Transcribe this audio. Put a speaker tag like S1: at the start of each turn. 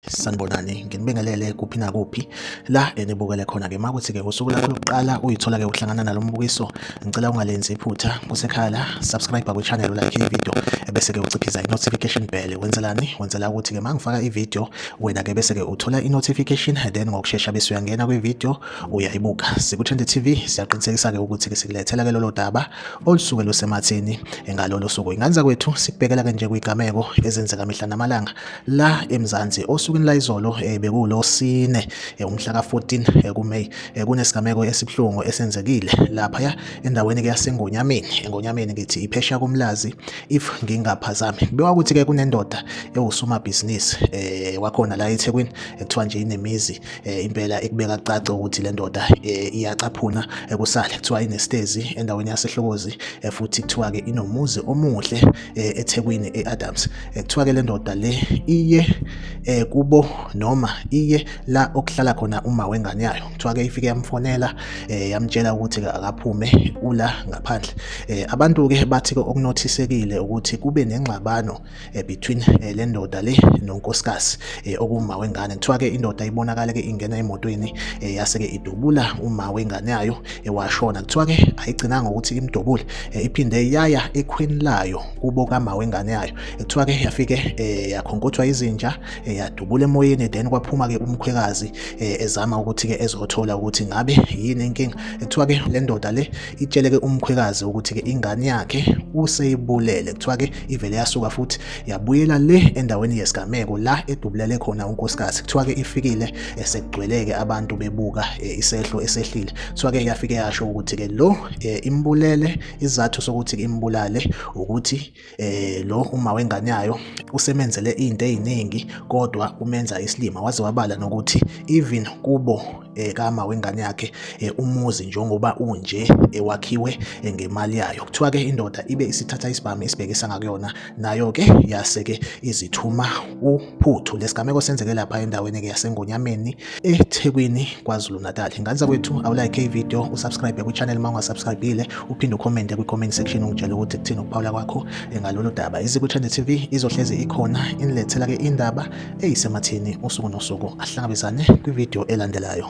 S1: sanibonani nginibingelele kuphi nakuphi la enibukele khona ke makuthi ke usuku lakho lokuqala uyithola ke uhlangana nalo mbukiso ngicela ungalenzi iphutha kusekhala subscribe kwi channel like i video bese ke uciphiza i notification bell wenzelani wenzela ukuthi ke mangifaka i video wena ke bese ke uthola i notification then ngokusheshsha bese uyangena kwi video uyayibuka siku-20 tv siyaqinisekisa-ke ukuthi-ke sikulethela-ke lolo daba olusuke lusematheni ngalolo suku ingane zakwethu sikubhekela-ke nje kwigameko ezenzeka mihla namalanga la emzansi osukwini layizolo um eh, bekulo sine eh, umhla ka-14 eh, kumeyi kunesigameko esibuhlungu esenzekile laphaya endaweni-ke yasengonyameni engonyameni ngithi iphesha komlazi if ngingaphazami kubekwa ukuthi-ke kunendoda ewusomabhizinisi um wakhona la ethekwini ekuthiwa nje inemizi eh, impela ekubeka kucace ukuthi le ndoda eh, iyacaphuna ekusale eh, kuthiwa inestezi endaweni yasehlokozi eh, futhi kuthiwa-ke inomuzi omuhle eh, ethekwini e-adams eh, kuthiwa-ke le ndoda le iye eh, kubo noma iye la okuhlala khona uma wengane yayo kuthiwa-ke ifike yamfonela eh, yamtshela ukuthi akaphume ula ngaphandle eh, abantu-ke bathi-ke okunothisekile ukuthi kube nengxabano eh, between eh, le ndoda le nonkosikazi eh, okuma wengane kuthiwa ke indoda ibonakale ke ingena emotweni eh, yase ke idubula uma wengane yayo eh, washona kuthiwa ke ayigcinanga ukuthi imdubule eh, iphinde yaya ekhweni layo kubo kama wengane yayo eh, kuthiwa ke yafike eh, yakhonkothwa izinja eh, yadubula emoyeni then kwaphuma ke umkhwekazi eh, ezama ukuthi ke ezothola ukuthi ngabe yini inkinga eh, kuthiwa ke le ndoda le itsheleke umkhwekazi ukuthi ke ingane yakhe useyibulele kuthiwa ke ivele yasuka futhi yabuyela le endaweni yesigameko la edubulele khona unkosikazi kuthiwa ke ifikile esekugcweleke abantu bebuka e, isehlo esehlile kuthiwa ke yafike yasho ukuthi ke lo e, imbulele izathu sokuthi imbulale ukuthi eh lo uma wengane yayo usemenzele izinto eziningi kodwa umenza isilima waze wabala nokuthi even kubo eh, kama wengane yakhe eh, umuzi njengoba unje ewakhiwe eh, eh, ngemali yayo kuthiwa ke indoda ibe isithatha isibhamu isibhekisa ngakuyona nayo ke yase ke izithuma uphuthu lesigameko senzeke lapha endaweni ke yasengonyameni eThekwini KwaZulu Natal. Ngane zakwethu awulike ivideo usubscribe kwichannel uma ungasubscribile uphinde ucommente kwi-comment section ungitshele ukuthi kuthini ukuphawula kwakho ngalolu daba. IZikwichannel TV izohlezi ikhona inilethela-ke indaba eyisemathini usuku nosuku. Asihlangabezane kwivideo elandelayo.